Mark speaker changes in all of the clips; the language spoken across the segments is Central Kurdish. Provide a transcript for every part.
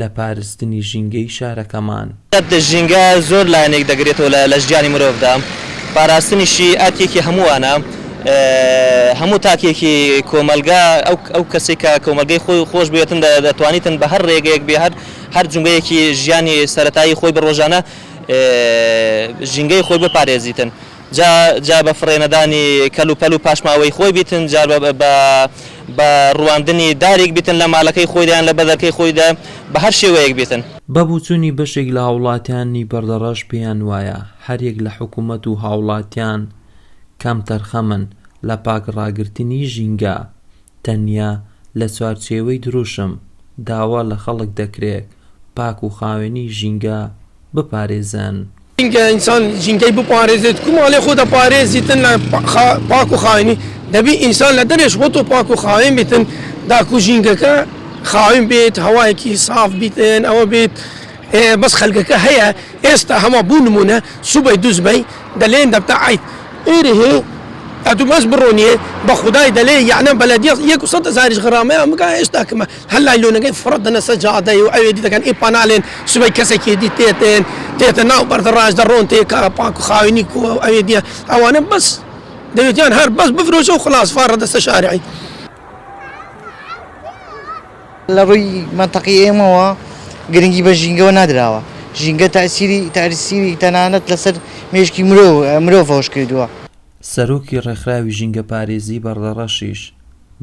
Speaker 1: لە پارستنی ژینگەی شارەکەمان. ژینگە
Speaker 2: زۆر لایەنێک دەگرێتەوە لە لە ژیانی مرۆڤدا، پاراستنیشی ئەرکێکی هەمووانە، هەموو تاکێکی کۆمەڵگا ئەو ئەو کەسێک کە کۆمەڵگەی خۆی و خۆش بوێتن دە دەتوانیتن بە هەر ڕێگەیەک بێ هەر هەر جومگەیەکی ژیانی سەرەتایی خۆی بە ڕۆژانە ژینگەی خۆی بپارێزیتن. جا جا بە فڕێ نەدانی کەل و پەل و پاشماوەی خۆی بیتن، جار بە بە بە ڕواندنی داریک بیتن لە مالەکەی خۆیدا یان لە بەدەرکەی خۆیدا بە هەر شێوەیەک بیتن. بە بوچونی بەشێک
Speaker 1: لە هاوڵاتیانی بەردەڕەش پێیان وایە هەر یەک لە حکومەت و هاوڵاتیان کەم تەرخەمن لە پاک ڕاگرتنی ژینگە تەنیا لە چوارچێوەی دروشم، داوا لە خەڵک دەکرێت پاک و خاوێنی ژینگە بپارێزن. ژینگە، ئینسان
Speaker 3: ژینگەی بپارێزێت، کو ماڵێ خۆ دەپارێزیتن لە پاک و خاوێنی، دەبی ئینسان لە دەرێش خۆتۆ پاک و خاوێن بیتن، داکو ژینگەکە خاوێن بێت، هەوایەکی ساف بیتن، ئەوە بێت بەس خەلکەکە هەیە ئێستا هەموە بو نمونە سوبەی دوزبەی دەلێن دەبتە عەیب ئێرێ ئەتو بەس بڕۆنیێ بەخودای دەلێ یەعنە بەلەدیە یەک و سەد هەزاریش غرامەیان بکا ئێستا کمە هەر لایلۆنەکەی فڕە دەنە سە جادەی و ئەوێ دی دەکەن ئی پانالێن سبەی کەسەکی دی تێتێن تێتە ناو بەردە ڕاش دەڕۆن تێ کارە پاک و خاوێنی کووە و ئەوێ دیە ئەوانە بەس دەوێتیان هەر بەس بفرۆشە و خلاص فاڕە دەسە شارعی
Speaker 4: لە ڕووی مەنتەقی ئێمەوە گرنگی بە ژینگەوە نادراوە، ژینگە تەئسیری تەئسیری تەنانەت لەسەر مێشکی مرۆ مرۆڤەوەش کردووە. سەرۆکی
Speaker 1: ڕێکخراوی ژینگەپارێزیی بەڕدەڕەشیش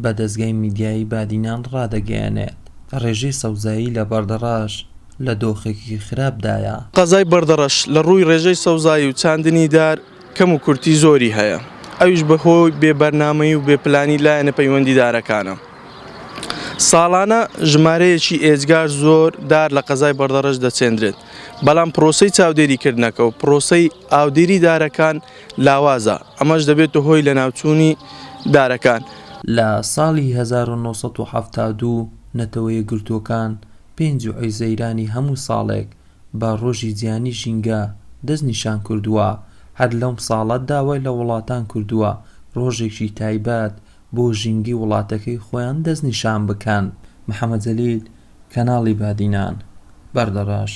Speaker 1: بە دەزگای میدیایی بادینان ڕادەگەیەنێت، ڕێژەی سەوزایی لە بەڕدەڕەش لە دۆخێکی خراپ دایە. قەزای بەڕدەڕەش
Speaker 5: لە ڕووی ڕێژەی سەوزایی و چاندنی دار کەم و کورتی زۆری هەیە، ئەویش بە هۆی بێ بەرنامەیی و بێ پلانی لایەنە پەیوەندیدارەکانە. ساڵانە ژمارەیەکی ئێجگار زۆر دار لە قەزای بەردەڕەش دەچێندرێت، بەڵام پرۆسەی چاودێریکردنەکە و پرۆسەی ئاودێری دارەکان لاوازە، ئەمەش دەبێتە هۆی لەناوچوونی دارەکان. لە
Speaker 1: ساڵی هەزار و نۆ سەد و حەفتا و دوو نەتەوە یەکگرتووەکان پێنج ی حوزەیرانی هەموو ساڵێک بە ڕۆژی جیهانی ژینگە دەست نیشان کردووە، هەر لەم ساڵە داوای لە وڵاتان کردووە ڕۆژێکی تایبەت بۆ ژینگەی وڵاتەکەی خۆیان دەستنیشان بکەن. محەمەد جەلیل، کەناڵی بادینان، بەردەڕەش.